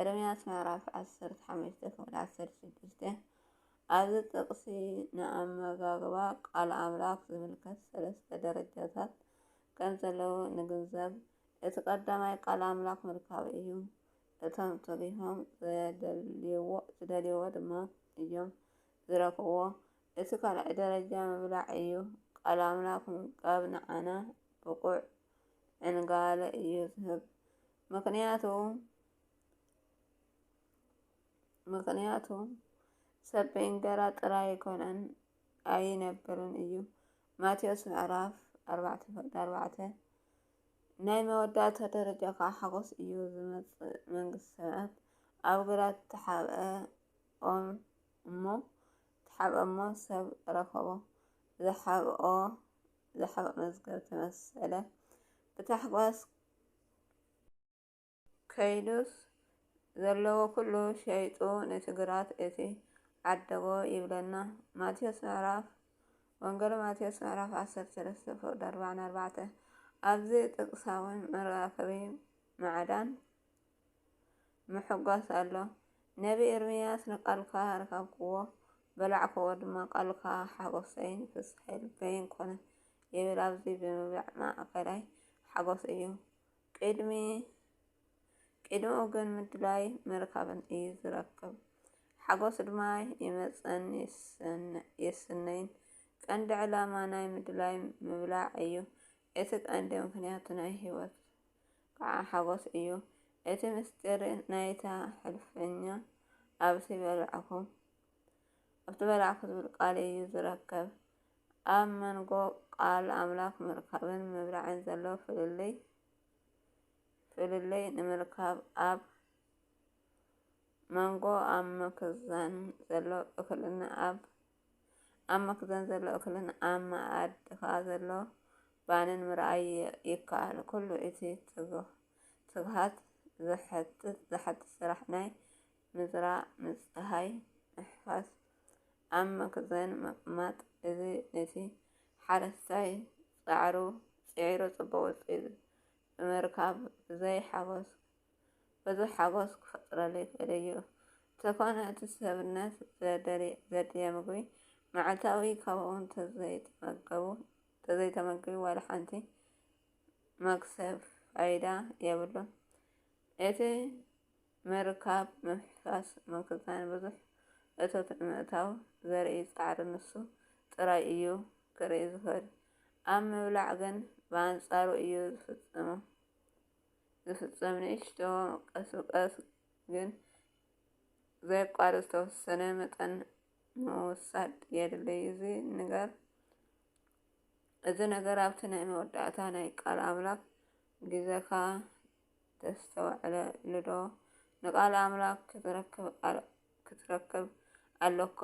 ኤርምያስ ምዕራፍ ዓሰርተ ሓሙሽተ ክፍሊ ዓሰርተ ሽዱሽተ ኣብዚ ጥቕሲ ንኣመጋግባ ቃል ኣምላኽ ዝምልከት ሰለስተ ደረጃታት ከም ዘለዉ ንግንዘብ። እቲ ቀዳማይ ቃል ኣምላኽ ምርካብ እዩ። እቶም ተጊሆም ዝደልይዎ ድማ እዮም ዝረክብዎ። እቲ ካልኣይ ደረጃ ምብላዕ እዩ። ቃል ኣምላኽ ምምጋብ ንዓና ብቑዕ ዕንጋለ እዩ ዝህብ። ምኽንያቱ ምኽንያቱ ሰብ ብእንገራ ጥራይ ኣይኮነን ኣይነብርን እዩ ማቴዎስ ምዕራፍ ኣርባዕተ ፍቅዲ ኣርባዕተ ናይ መወዳእታ ደረጃ ከዓ ሓጎስ እዩ ዝመፅእ መንግስቲ ሰማያት ኣብ ግራት ተሓብአ ኦም እሞ ተሓብአ እሞ ሰብ ረኸቦ ዝሓብኦ ዝሓብኦ መዝገብ ተመሰለ ብታሕጓስ ከይዱስ ዘለዎ ኩሉ ሸይጡ ንትግራት እቲ ዓደቦ ይብለና ማቴዎስ ምዕራፍ ወንጌል ማቴዎስ ምዕራፍ ዓሰርተ ሰለስተ ፍቅድ ኣርባዕን ኣርባዕተ ኣብዚ ጥቅሳዊ መራከቢ ማዕዳን ምሕጓስ ኣሎ። ነቢ ኤርምያስ ንቃልካ ረካብክዎ በላዕክዎ ድማ ቃልካ ሓጎሰይን ፍስሐይ ልበይን ኮነ። ይብል ኣብዚ ብምብላዕ ማእከላይ ሓጎስ እዩ። ቅድሚኡ ግን ምድላይ ምርካብን እዩ ዝረክብ። ሓጎስ ድማ ይመጽእን ይስነይን። ቀንዲ ዕላማ ናይ ምድላይ ምብላዕ እዩ። እቲ ቀንዲ ምክንያቱ ናይ ህይወት ከዓ ሓጎስ እዩ። እቲ ምስጢር ናይታ ሕልፈኛ ኣብዚ በላዕኹ። ኣብ ዝበላዕኩ ዝብል ቃል እዩ ዝረከብ። ኣብ መንጎ ቃል ኣምላኽ ምርካብን ምብላዕን ዘሎ ፍልልይ ፍልልይ ንምርካብ ኣብ መንጎ ኣብ መክዘን ዘሎ እኽልን ኣብ ኣብ መክዘን ዘሎ እኽልን ኣብ መኣድኻ ዘሎ ባንን ምርኣይ ይ- ይከኣል። ኩሉ እቲ ትግ- ትግሃት ዝሐትት ዝሐትት ስራሕ ናይ ምዝራእ ምጽሃይ ምሕፋስ ኣብ መክዘን ምቕማጥ እዚ ነቲ ሓረስታይ ጻዕሩ ጽዒሩ ጽቡቕ ውጽኢት ብምርካብ ብዘይ ሓጎስ ብዙሕ ሓጎስ ክፈጥረሉ ይኽእል እዩ። እንተኾነ እቲ ሰብነት ዘድልየ ምግቢ መዓልታዊ ካብኡ እንተዘይተመገቡ እንተዘይተመግቢ ዋላ ሓንቲ መክሰብ ፋይዳ የብሉን። እቲ ምርካብ፣ ምፍሕፋስ፣ ምክዛን ብዙሕ እቶት ንምእታው ዘርኢ ጻዕሪ ንሱ ጥራይ እዩ ክርኢ ዝኽእል። ኣብ ምብላዕ ግን ብኣንጻሩ እዩ ዝፍጸም። ንእሽቶ ቀስ ብቀስ ግን ዘየቋርጽ ዝተወሰነ መጠን ምውሳድ የድልይ። እዚ ነገር እዚ ነገር ኣብቲ ናይ መወዳእታ ናይ ቃል ኣምላኽ ግዜኻ ተስተውዕለሉዶ? ንቃል ኣምላክ ክትረክብ ኣሎካ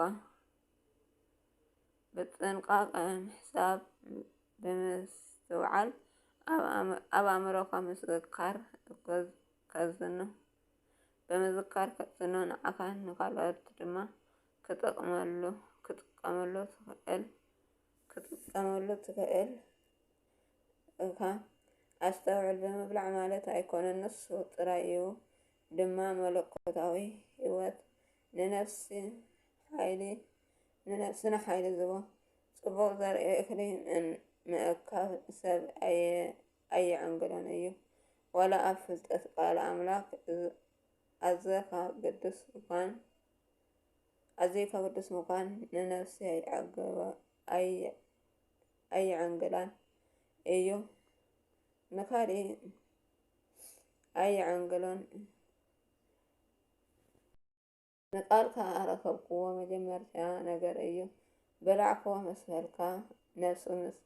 ብጥንቃቀ ምሕሳብ ብምስትውዓል ኣብ ኣእምሮካ ምዝካር ከዝኑ ብምዝካር ከዝኑ ንዓካ ንካልኦት ድማ ክጥቅመሉ ትክእል ክትጥቀመሉ ትክእል። እካ ኣስተውዕል ብምብላዕ ማለት ኣይኮነን ንሱ ጥራይ እዩ ድማ መለኮታዊ ህይወት ንነፍሲ ሓይሊ ንነፍስና ሓይሊ ዝቦ ጽቡቕ ዘርኢ እክሊ ምእካብ ሰብ ኣየዕንግሎን እዩ ወላ ኣብ ፍልጠት ቃል ኣምላክ ኣዘካ ግዱስ ምኳን ኣዘካ ግዱስ ምኳን ንነፍሲ ኣይዕገበ ኣይ ኣይዕንግላን እዩ ንካልእ ኣይዕንግሎን ንቃልካ ኣረከብክዎ መጀመርታ ነገር እዩ በላዕኮ ምስ በልካ ነብሱ ምስ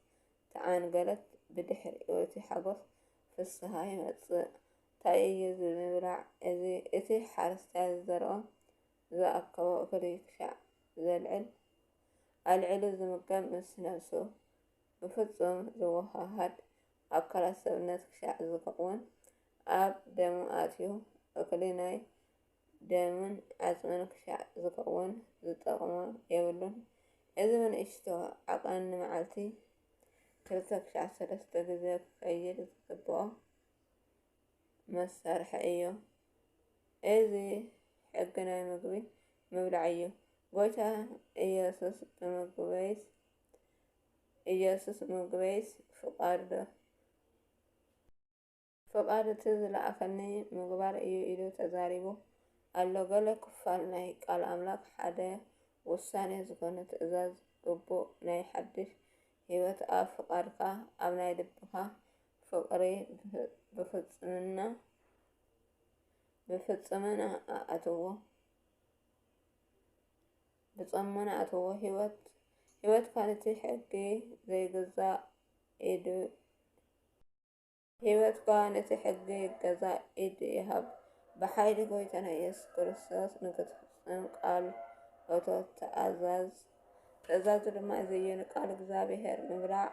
ተዓንገለት ብድሕሪኡ እቲ ሓጎስ ፍስሃ ይመጽእ እንታይ እዩ እዚ ምብላዕ እዚ እቲ ሓረስታይ ዝዘርኦ ዝኣከቦ እኽሊ ክሻዕ ዘልዕል ኣልዒሉ ዝምገብ ምስ ነብሱ ብፍጹም ዝወሃሃድ ኣካላት ሰብነት ክሻዕ ዝከውን ኣብ ደሙ ኣትዩ እክሊ ናይ ደምን ዓጽምን ክሻዕ ዝከውን ዝጠቅሞ የብሉን። እዚ ብንእሽቶ ዓቀን ንመዓልቲ ክልተ ክሻዕ ሰለስተ ግዜ ክከይድ ዝግብኦ። መሳርሒ እዩ። እዚ ሕጊ ናይ ምግቢ ምብላዕ እዩ። ጎይታ ኢየሱስ ብምግበይስ ኢየሱስ ብምግበይስ ፍቃዱ ፍቃድ እቲ ዝለኣኸኒ ምግባር እዩ ኢሉ ተዛሪቡ ኣሎ። ገለ ክፋል ናይ ቃል ኣምላክ ሓደ ውሳኔ ዝኾነ ትእዛዝ ግቡእ ናይ ሓድሽ ህይወት ኣብ ፍቃድካ ኣብ ናይ ልብካ ፍቕሪ ብፍጽምና ብፍጽምና ኣእትዎ ብጸሞና ኣእትዎ ህይወት ህይወት ካልቲ ሕጊ ዘይግዛእ ኢድ ህይወትካ ነቲ ሕጊ ገዛ ኢድ ይሃብ ብሓይሊ ጎይታና ኢየሱስ ክርስቶስ ንክትፍጽም ቃል እቶ ተኣዛዝ ትእዛዙ ድማ እዚ እዩ ንቃል እግዚኣብሔር ምብላዕ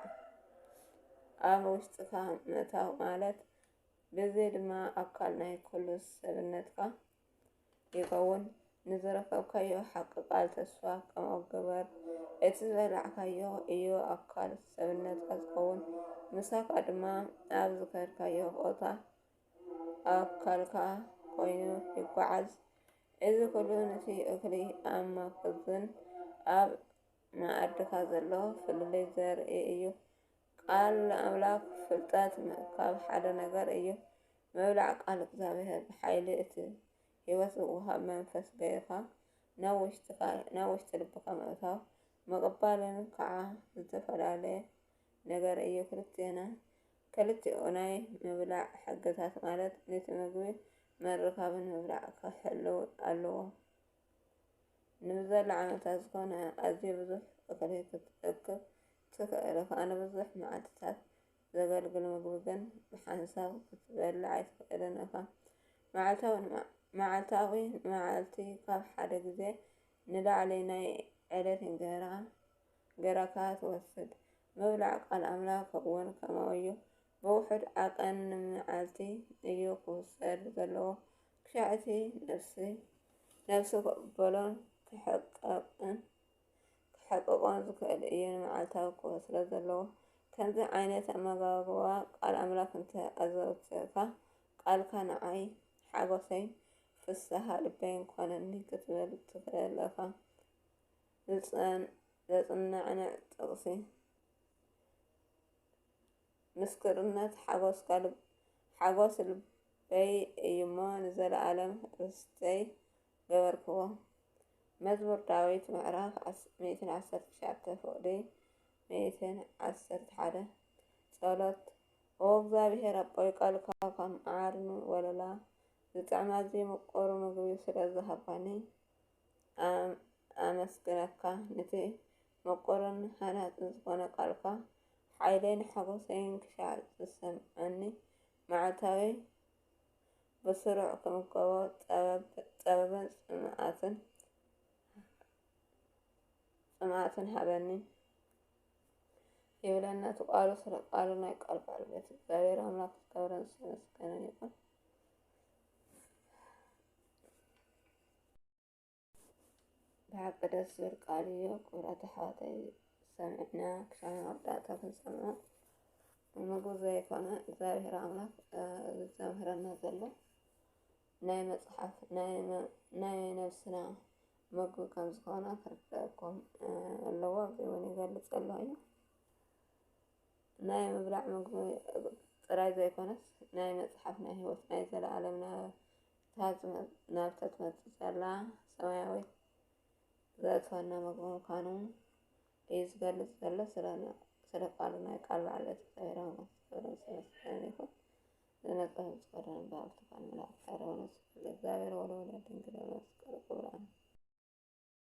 ኣብ ውሽጥካ ምእታው ማለት ብዚ ድማ ኣካል ናይ ኩሉ ሰብነትካ ይኸውን ንዝረከብካዮ ሓቂ ቃል ተስፋ ከምኡ ግበር እቲ ዝበላዕካዮ እዩ ኣካል ሰብነትካ ዝኸውን ምሳካ ድማ ኣብ ዝከድካዮ ቦታ ኣብ ካልካ ኮይኑ ይጓዓዝ። እዚ ኩሉ ንቲ እክሊ ኣብ መክዝን ኣብ መኣድካ ዘሎ ፍልልይ ዘርኢ እዩ። ቃል ኣምላክ ፍልጠት ምእካብ ሓደ ነገር እዩ። ምብላዕ ቃል እግዚኣብሔር ብሓይሊ እቲ ሕይወት ዝውሃብ መንፈስ ገይርካ ናብ ውሽጢ ልብካ ምእታው ምቕባልን ከዓ ዝተፈላለየ ነገር እዩ። ክርስትያና ክልቲኡ ናይ ምብላዕ ሕግታት ማለት ንቲ ምግቢ ምርካብን ምብላዕ ክሕልው ኣለዎ። ንብዘላ ዓመታት ዝኾነ ኣዝዩ ብዙሕ እኽሊ ክትእክብ ትኽእል እኻ፣ ንብዙሕ መዓልትታት ዘገልግል ምግቢ ግን ብሓንሳብ ክትበልዕ ኣይትኽእልን እኻ። መዓልታዊ መዓልታዊ ንመዓልቲ ካብ ሓደ ግዜ ንላዕሊ ናይ ዕለት እንጀራ ገራካ ትወስድ ምብላዕ ቃል ኣምላክ እውን ከምኡ እዩ ብውሑድ ዓቀን ንመዓልቲ እዩ ክውሰድ ዘለዎ ክሻዕ እቲ ነፍሲ ነፍሲ ክቕበሎን ክሕቀቕን ክሕቅቆን ዝክእል እዩ ንመዓልታዊ ክወስዶ ዘለዎ ከምዚ ዓይነት ኣመጋግባ ቃል ኣምላክ እንተ ኣዘውትርካ ቃልካ ንዓይ ሓጎሰይ ፍስሃ ልበይን ኮነኒ ክትብል ትክእል እኻ ዘጽናንዕ ጥቕሲ፣ ምስክርነት ሓጐስካ ሓጐስ ልበይ እዩ'ሞ ንዘለኣለም ርስተይ ገበርክዎ። መዝሙር ዳዊት ምዕራፍ ሚእትን ዓሰርተ ትሽዓተ ፍቕዲ ሚእትን ዓሰርተ ሓደ ጸሎት ኦ እግዚኣብሔር ኣቦይ ቃልካ ከም ዓርን ወለላ ዝጥዕም ኣዝዩ ምቁር ምግቢ ስለ ዝሃብካኒ ኣመስግነካ ንቲ ምቁርን ሃናጽን ዝኾነ ቃልካ ሓይለይን ሓጎሰይን ክሻዕ ዝሰምዐኒ መዓልታዊ ብስሩዕ ክምገቦ ጸበብን ጽምኣትን ጽምኣትን ሃበኒ ይብለና እቲ ቃሉ ስለ ቃሉ ናይ ቃል ባለቤት እግዚኣብሔር ኣምላክ ዝከብረን ዝተመስገነ ይኹን። ብሓቂ ደስ ዝብል ቃል እዩ ክብረት ኣሕዋተይ ሰሚዕና ክሻብ መወዳእታ ክንሰምዖ ንጉ ዘይኮነ እግዚኣብሔር ኣምላክ ዘምህረና ዘሎ ናይ መፅሓፍ ናይ ነብስና ምግቢ ከም ዝኾነ ክርዳእኩም ኣለዎ እዚ እውን ይገልፅ ኣሎ እዩ ናይ ምብላዕ ምግቢ ጥራይ ዘይኮነስ ናይ መፅሓፍ ናይ ሂወት ናይ ዘለኣለምና ናብታ ትመጽእ ዘላ ሰማያዊት ዘእትወና ምግቢ ምዃኑ እዩ ዝገልጽ ዘሎ ስለ ስለ ቃሉ ናይ ቃል በዓል እቲ እግዚአብሔር አምላክ ክብር ምስጋና ይኹን። ዝመጽሐፍ ዝቀረ ንባብ ተፋን መላእክት አረውነስ ለእግዚአብሔር ወለወላድ ድንግል ወለመስቀሉ ክብራን